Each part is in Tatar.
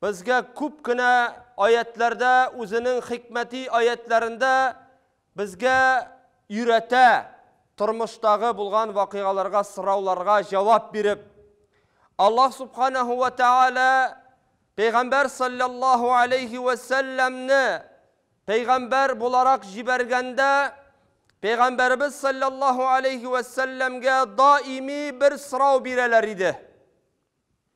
Безгә күп кенә аятьләрдә үзенең хикмәти аятьләрендә безгә өйрәтә, тормыштагы булган вакыйгаларга, сорауларга җавап биреп. Аллаһ Субханаһу вә Тәгалә Пәйгамбәр салләллаһу алейһи вә сәлләмне пәйгамбәр буларак җибәргәндә, Пәйгамбәребез салләллаһу алейһи вә сәлләмгә даими бер сорау бирәләр иде.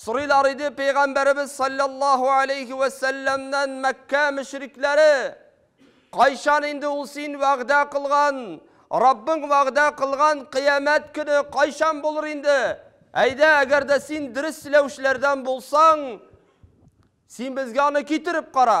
Сорыйлар иде Пәйгамбәребез салләллаһу аләйһи вә сәлләмнән Мәккә мөшрикләре, Кайчан инде ул син вәгъдә кылган, Раббың вәгъдә кылган кыямәт көне кайчан булыр инде? Әйдә, әгәр дә син дөрес сөйләүчеләрдән булсаң, син безгә аны китереп кара.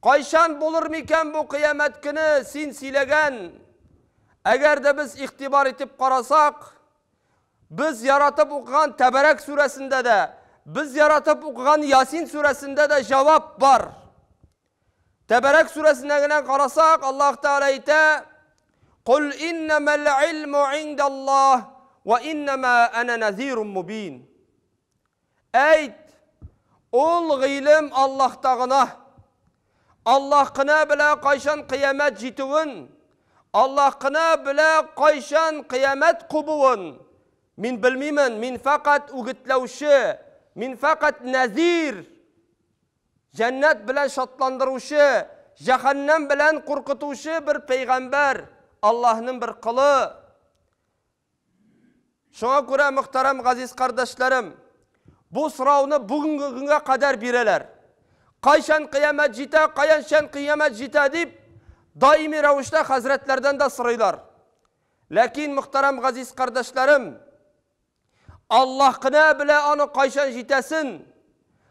Кайчан булыр микән бу кыямәт көне, син сөйләгән? Әгәр дә без игътибар итеп карасак, без яратып укыган Тәбәрәк сүрәсендә дә, без яратып укыган Ясин сүрәсендә дә җавап бар. Тәбәрәк сүрәсенә генә карасак, Аллаһ Тәгалә әйтә: "Кул иннамал илму индаллаһ ва иннама ана назирун мубин". Әйт, ул гыйлем Аллаһта гына. Аллаһ кына белә кайчан кыямәт җитүен, Аллаһ кына белә кайчан кыямәт кубуын. Мин белмимен, мин фәкать үгетләүче, мин фәкать нәзир, җәннәт белән шатландыручы, җәһәннәм белән куркытучы бер пәйгамбәр, Аллаһның бер колы. Шуңа күрә, мөхтәрәм газиз кардәшләрем, бу сорауны бүгенге көнгә кадәр бирәләр. Кайчан кыямәт җитә, каянчан кыямәт җитә дип, даими рәвештә хәзрәтләрдән дә сорыйлар. Ләкин, мөхтәрәм газиз кардәшләрем, Аллаһ кына белә аны кайчан җитәсен.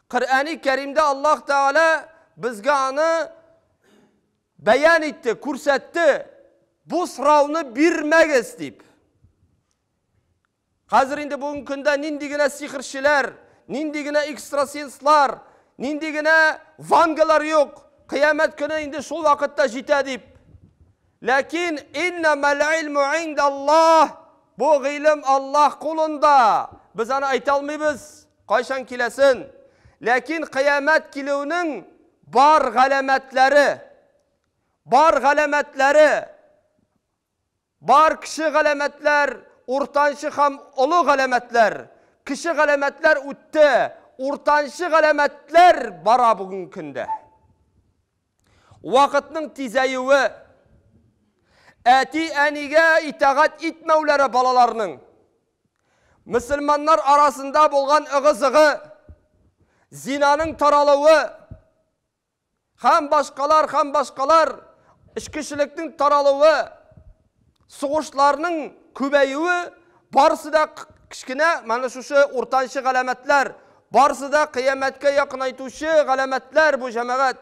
Коръәни Кәримдә Аллаһ Тәгалә безгә аны Бәян итте, күрсәтте, бу сорауны бирмәгез дип. Хәзер инде бүгенге көндә нинди генә сихерчеләр, нинди генә экстрасенслар, нинди генә вангалар юк, кыямәт көне инде шул вакытта җитә дип. Ләкин иннамәл илму индаллаһ, бу гыйлем Аллаһ кулында. Без аны әйтә алмыйбыз. Кайчан киләсен? Ләкин кыямәт килүенең бар галәмәтләре, бар галәмәтләре, бар кеше галәмәтләр, уртанчы һәм олы галәмәтләр, кеше галәмәтләр үтте, уртанчы галәмәтләр бара бүгенге көндә. Вакытның тизәюе, әти-әнигә итагать итмәүләре балаларның, мөселманнар арасында булган ыгы-зыгы, зинаның таралуы һәм башкалар һәм башкалар эчкечелекнең таралуы, сугышларның күбәюе барысы да кечкенә менә шушы уртанчы галәмәтләр, барысы да кыямәткә якынайтучы галәмәтләр бу җәмәгать.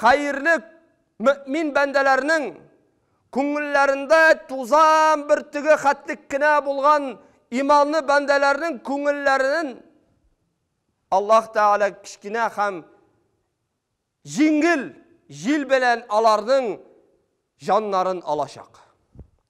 Хәерлек, мөэмин бәндәләрнең күңелләрендә тузан бөртеге хәтлек кенә булган иманлы бәндәләрнең күңелләрен Аллаһ Тәгалә кечкенә һәм җиңел җил белән аларның җаннарын алачак.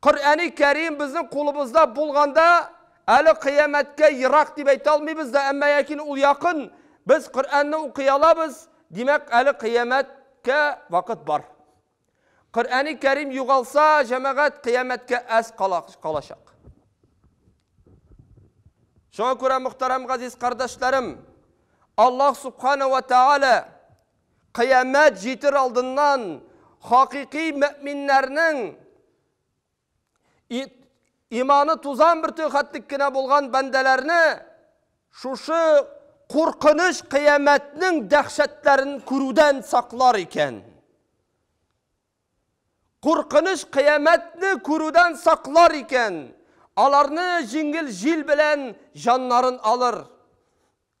Коръәни Кәрим безнең кулыбызда булганда, әле кыямәткә ерак дип әйтә алмыйбыз да, әмма ләкин ул якын, без Коръәнне укый алабыз, димәк, әле кыямәткә вакыт бар. Коръәни Кәрим югалса, җәмәгать, кыямәткә әз калачак. Шуңа күрә, мөхтәрәм газиз кардәшләрем, Аллаһ Субхана уә Тәгалә, Кыямәт җитер алдыннан хакыйкый мөэминнәрнең иманы тузан бөртеге хәтлек кенә булган бәндәләрне шушы куркыныч кыямәтнең дәһшәтләрен күрүдән саклар икән. Куркыныч кыямәтне күрүдән саклар икән. Аларны җиңел җил белән җаннарын алыр.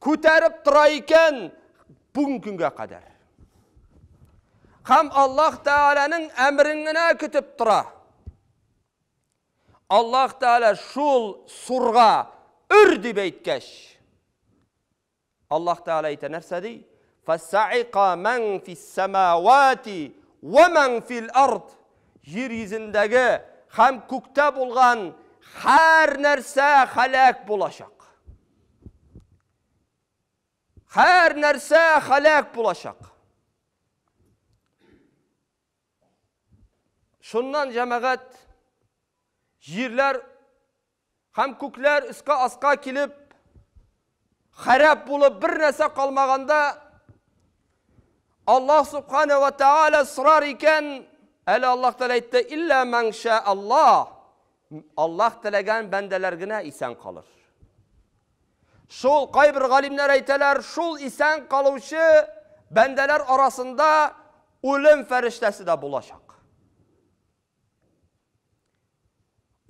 күтәреп тора икән бүгенге көнгә кадәр. Һәм Аллаһ Тәгаләнең әмерен генә көтеп тора. Аллаһ Тәгалә шул сурга үр дип әйткәч, Аллаһ Тәгалә әйтә нәрсә ди? Фасаика ман фис самавати ва ман фил ард. Җир йөзендәге һәм күктә булган һәр нәрсә халәк булачак. Хәр нәрсә халәк булачак. Шуннан җәмәгать җирләр һәм күкләр өскә аска килеп, хәрәп булып бер нәрсә калмаганда Аллаһ субхана ва тааля сорар икән, әле Аллаһ тәгалә әйтте, илля мәңшә Аллаһ, М Аллаһ теләгән бәндәләр генә исән калыр. Шул кайбер галимнәр әйтәләр, шул исән калучы бәндәләр арасында үлем фәрештәсе дә булачак.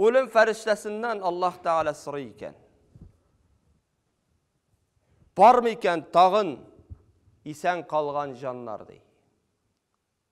Үлем фәрештәсеннән Аллаһ Тәгалә сорый икән. Бармы икән тагын исән калган җаннар ди.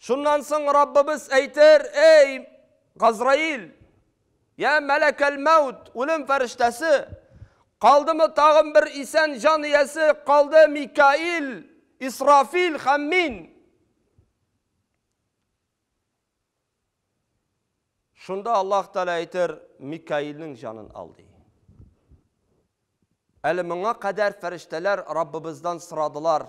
Шуннан соң Раббыбыз әйтер, Эй, Газраил, я мәләкәл-мәүт, үлем фәрештәсе, калдымы тагын бер исән җан иясе, калды Микаил, Исрафил һәм мин. Шунда Аллаһ Тәгалә әйтер, Микаилнең җанын ал ди. Әле моңа кадәр фәрештәләр Раббыбыздан сорадылар,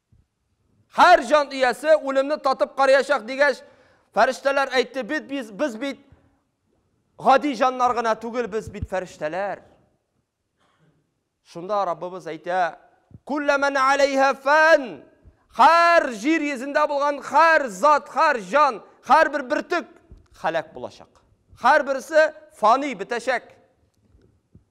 Һәр җан иясе үлемне татып карыячак, дигәч, фәрештәләр әйтте, бит без, без бит гади җаннар гына түгел, без бит фәрештәләр. Шунда Раббыбыз әйтә, Күлләмән алейһа фән, хәр җир йөзендә булган хәр зат, хәр җан, хәр бер бөртек халәк булачак. Хәр берсе фани бетәчәк.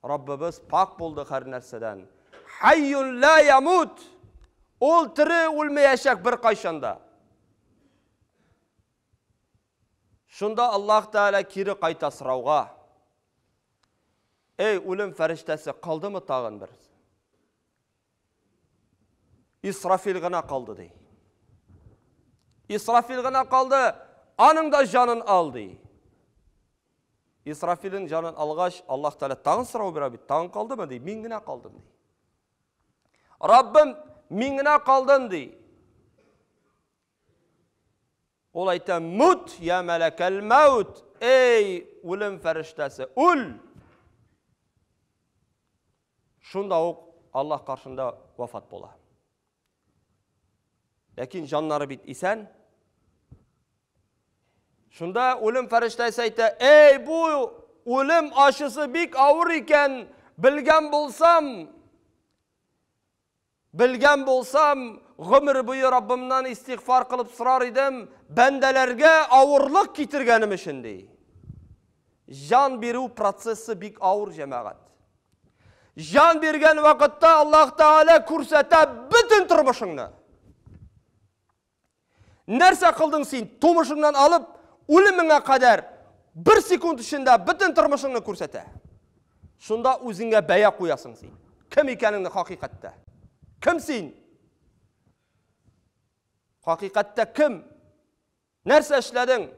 Раббыбыз пакь булды һәрнәрсәдән. Хәййун лә ямут! Ул тере, үлмәячәк беркайчан да. Шунда Аллаһ Тәгалә кире кайта сорауга. Эй, үлем фәрештәсе, калдымы тагын бер? Исрафил гына калды, ди. Исрафил гына калды, аның да җанын ал, ди. Исрафилин җанын алгач, Аллаһ Тәгалә тагын сорау бирә бит, тагын калдымы, ди. Мин генә калдым, ди. Раббым, мин генә калдым, ди. Ул әйтә, мут, я мәләкәл мәут, эй, үлем фәрештәсе, үл! Шунда ук Аллаһ каршында вафат була. Ләкин җаннары бит исән. Шунда үлем фәрештәсе әйтә, "Эй, бу үлем ачысы бик авыр икән, белгән булсам, Белгән булсам, гомер буе Раббымнан истигъфар кылып сорар идем, бәндәләргә авырлык китергәнем өчен, ди. Җан бирү процессы бик авыр, җәмәгать. Җан биргән вакытта Аллаһ Тәгалә күрсәтә бөтен тормышыңны. Нәрсә кылдың син? Тумышыңнан алып, үлемеңә кадәр бер секунд эчендә бөтен тормышыңны күрсәтә. Шунда үзеңә бәя куясың син. Кем икәнеңне хакыйкатьтә? Кем син? Хакыйкатьтә кем? Нәрсә эшләдең?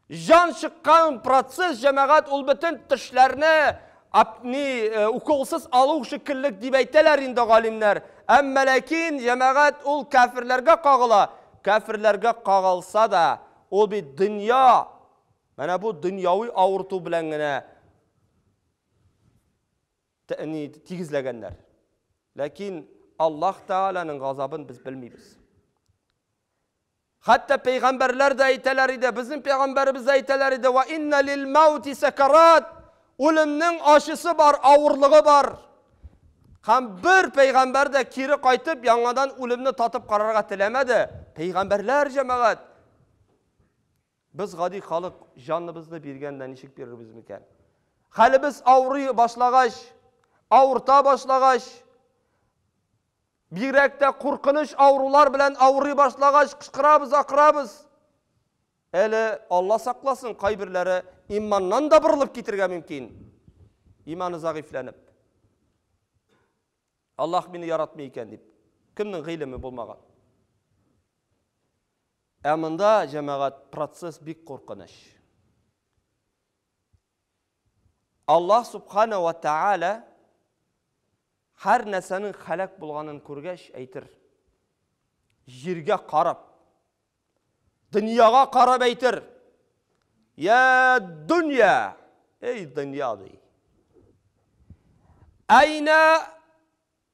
Җан чыккан процесс җәмәгать ул бөтен тешләрне апни уколсыз алу шикеллек дип әйтәләр инде галимнәр. Әмма ләкин җәмәгать ул кәферләргә кагыла, кәферләргә кагылса да, ул бит дөнья, менә бу дөньяви авырту белән генә тәни тигезләгәннәр. Ләкин Аллаһ Тәгаләнең газабын без белмибез. Хәтта пәйгамбәрләр дә әйтәләр иде, безнең пәйгамбәребез дә әйтәләр иде, Вә иннә лил-мәүти сәкәрат, үлемнең ачысы бар, авырлыгы бар. Һәм бер пәйгамбәр дә кире кайтып, яңадан үлемне татып карарга теләмәде. Пәйгамбәрләр, җәмәгать! Без гади халык җаныбызны биргәндә ничек бирербез микән? Хәлебез авырый башлагач, авырта башлагач, Бигрәк тә куркыныч авырулар белән авырый башлагач, кычкырабыз, акырабыз. Әле, Алла сакласын, кайберләре иманнан да борылып китергә мөмкин. Иманы зәгыйфьләнеп. Аллаһ мине яратмый икән дип. Кемнең гыйлеме булмаган? Ә монда, җәмәгать, процесс бик куркыныч. Аллаһ Субхана ва Тәгалә һәр нәрсәнең хәләк булганын күргәч, әйтер. Җиргә карап, дөньяга карап әйтер. Я дөнья, эй дөнья ди. Айна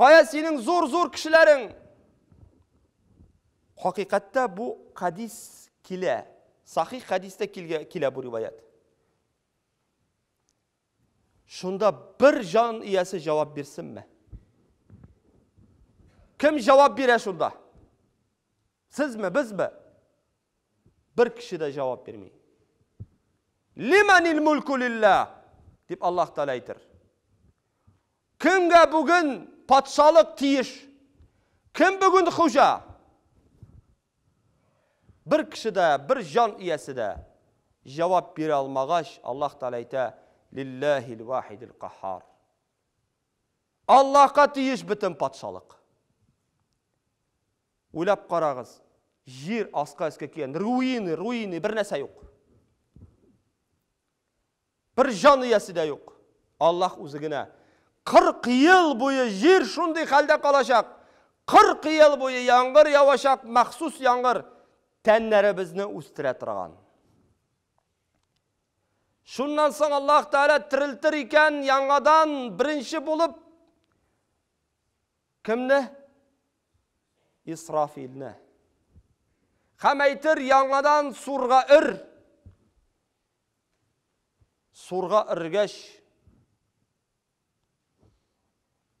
Кая синең зур-зур кешеләрең? Хакыйкатьтә бу хадис килә. Сахих хадистә килә бу риваят. Шунда бер җан иясе җавап бирсенме? Кем җавап бирә шунда? Сезме, безме? Бер кеше дә җавап бирми. Лиманил мулку лилла, дип Аллаһ Тәгалә әйтер. Кемгә бүген патшалык тиеш? Кем бүген хуҗа? Бер кеше дә, бер җан иясе дә җавап бирә алмагач, Аллаһ Тәгалә әйтә, Лилләһил вахидил каһһар. Аллаһка тиеш бөтен патшалык. Уйлап карагыз, җир аска өскә килгән, руины, руины, бер нәрсә юк. Бер җан иясе дә юк. Аллаһ үзе генә. Кырк ел буе җир шундый хәлдә калачак. Кырк ел буе яңгыр явачак, махсус яңгыр, тәннәребезне үстерә торган. Шуннан соң Аллаһ Тәгалә терелтер икән яңадан беренче булып кемне? Исрафилне. Һәм әйтер яңадан сурга өр. Сурга өргәч,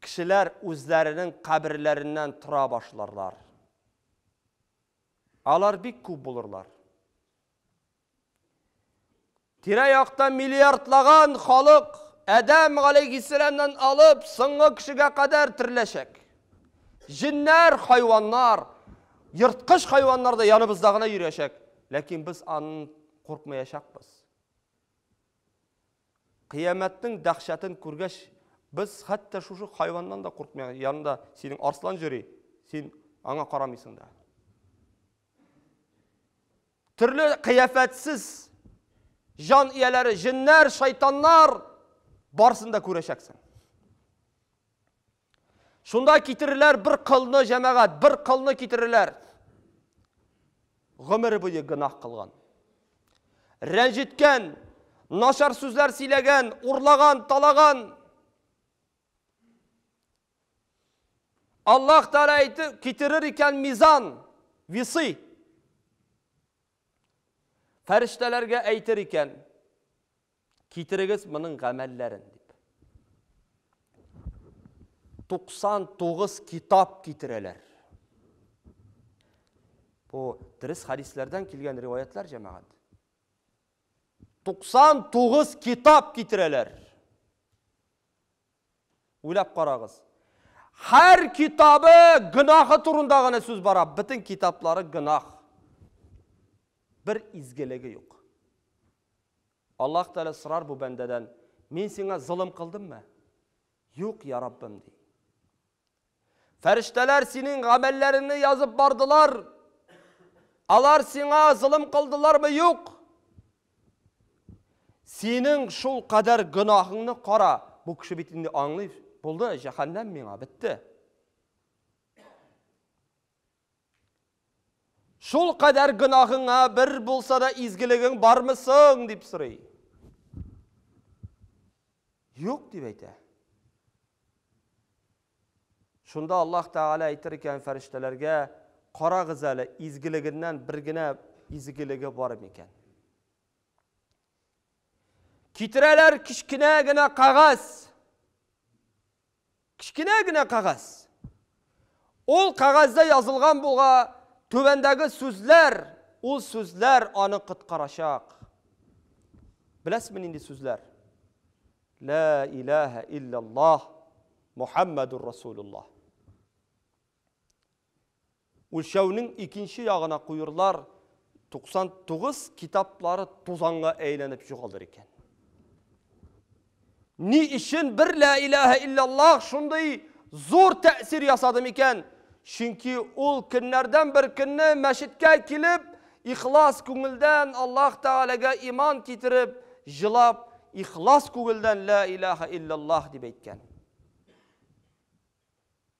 кешеләр үзләренең каберләреннән тора башларлар. Алар бик күп булырлар. Тирә-якта миллиардлаган халык Адәм галәйһиссәламнан алып соңгы кешегә кадәр терләшәк. Җеннәр, хайваннар, ерткыч хайваннар да яныбызда гына йөрәшәк, ләкин без аны Куркмаячакбыз. Кыямәтнең дәһшәтен күргәч, без хәтта шушы хайваннан да куркмыйбыз. Янында синең арслан йөри, син аңа карамыйсың да. Төрле кыяфәтсез җан ияләре, җеннәр, шайтаннар барсын да күрәчәксең. Шунда китерерләр бер кылны, җәмәгать, бер кылны китерерләр. Гомере буе гынах кылган. Рәнҗеткән, начар сүзләр сөйләгән, урлаган, талаган. Аллаһ Тәгалә әйтеп китерер икән мизан, висы. Фәрештәләргә әйтер икән. Китерегез моның гамәлләрен, дип. 99 китап китерәләр. Бу дөрес хадисләрдән килгән риваятлар, җәмәгать. 99 китап китерәләр. Уйлап карагыз. Һәр китабы гынахы турында гына сүз бара. Бөтен китаплары гынах. Бер изгелеге юк. Аллаһ Тәгалә сорар бу бәндәдән, Мин сиңа золым кылдыммы? Юк, йа Раббым, ди. Фәрештәләр синең гамәлләреңне язып бардылар. Алар сиңа золым кылдылармы? Юк. Синең шул кадәр гөнаһыңны кара. Бу кеше бит инде аңлый, булды, җәһәннәм миңа, бетте. Шул кадәр гөнаһыңа бер булса да изгелегең бармы соң? дип сорый. Юк дип әйтә. Шунда Аллаһ Тәгалә әйтер икән фәрештәләргә, карагыз әле, изгелегеннән бер генә изгелеге бар микән? Китерәләр кечкенә генә кагаз. Кечкенә генә кәгазь. Ул кәгазьдә язылган булга түбәндәге сүзләр, ул сүзләр аны коткарачак. Беләсезме нинди сүзләр? Лә иләһә илляллаһ Мухаммадур Расулуллаһ. Үлчәүнең икенче ягына куюрлар 99 китаплары тузанга әйләнеп югалыр икән. Ни өчен бер лә иләһә иллаллах шундый зур тәэсир ясады микән? Чөнки ул көннәрдән бер көнне мәчеткә килеп, ихлас күңелдән Аллаһ Тәгаләгә иман китереп, җылап, ихлас күңелдән лә иләһә иллаллах дип әйткән.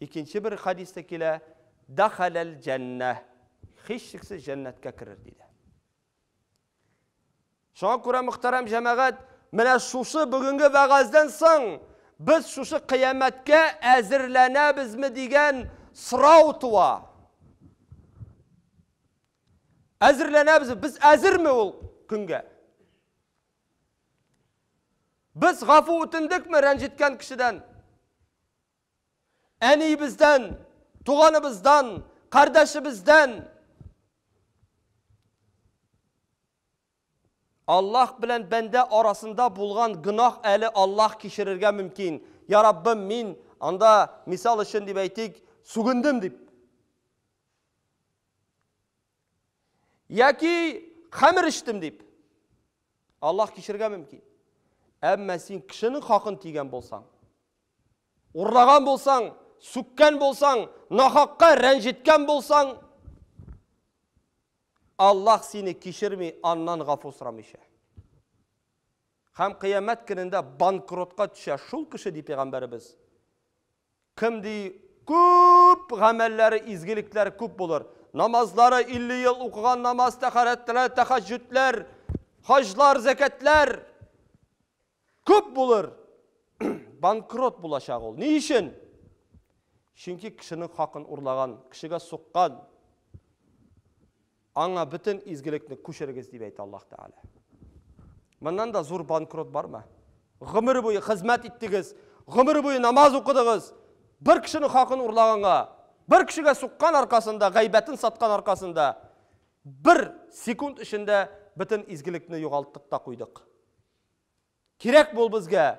Икенче бер хадиста килә, Дахаләл җәннә. Хишчексез җәннәткә керер диде. Шуңа күрә мөхтәрәм җәмәгать, менә шушы бүгенге вәгазьдән соң без шушы кыямәткә әзерләнәбезме дигән сорау туа. Әзерләнәбез, без әзерме ул көнгә? Без гафу үтендекме рәнҗеткән кешедән? Әниебездән, туганыбыздан, кардәшебездән? Аллаһ белән бәндә арасында булган гөнаһ әле Аллаһ кичерергә мөмкин. Я Раббым, мин анда мисал өчен дип әйтик, сүгендем дип. Яки хәмер эчтем дип. Аллаһ кичергә мөмкин. Әмма син кешенең хакын тигән булсаң, урлаган булсаң, сүккән булсаң, нахакка рәнҗеткән булсаң, Аллаһ сине кичерми, аннан гафу сорамыйча. Хәм кыямәт көнендә банкротка төшә шул кеше ди пәйгамбәребез. Кем ди, күп гамәлләре, изгелекләре күп булыр. Намазлары 50 ел укыган намаз, тәхарәтләр, тәхәҗҗүдләр, хаҗлар, зәкәтләр күп булыр. Банкрот булачак ул. Ни өчен? Чөнки кешенең хакын урлаган, кешегә суккан. Аңа бөтен изгелекне күчерегез, дип әйтә Аллаһ Тәгалә. Моннан да зур банкрот бармы? Гомер буе хезмәт иттегез, гомер буе намаз укыдыгыз, бер кешенең хакын урлаганга, бер кешегә суккан аркасында, гайбәтен саткан аркасында бер секунд эчендә бөтен изгелекне югалттык та куйдык. Кирәк бул безгә.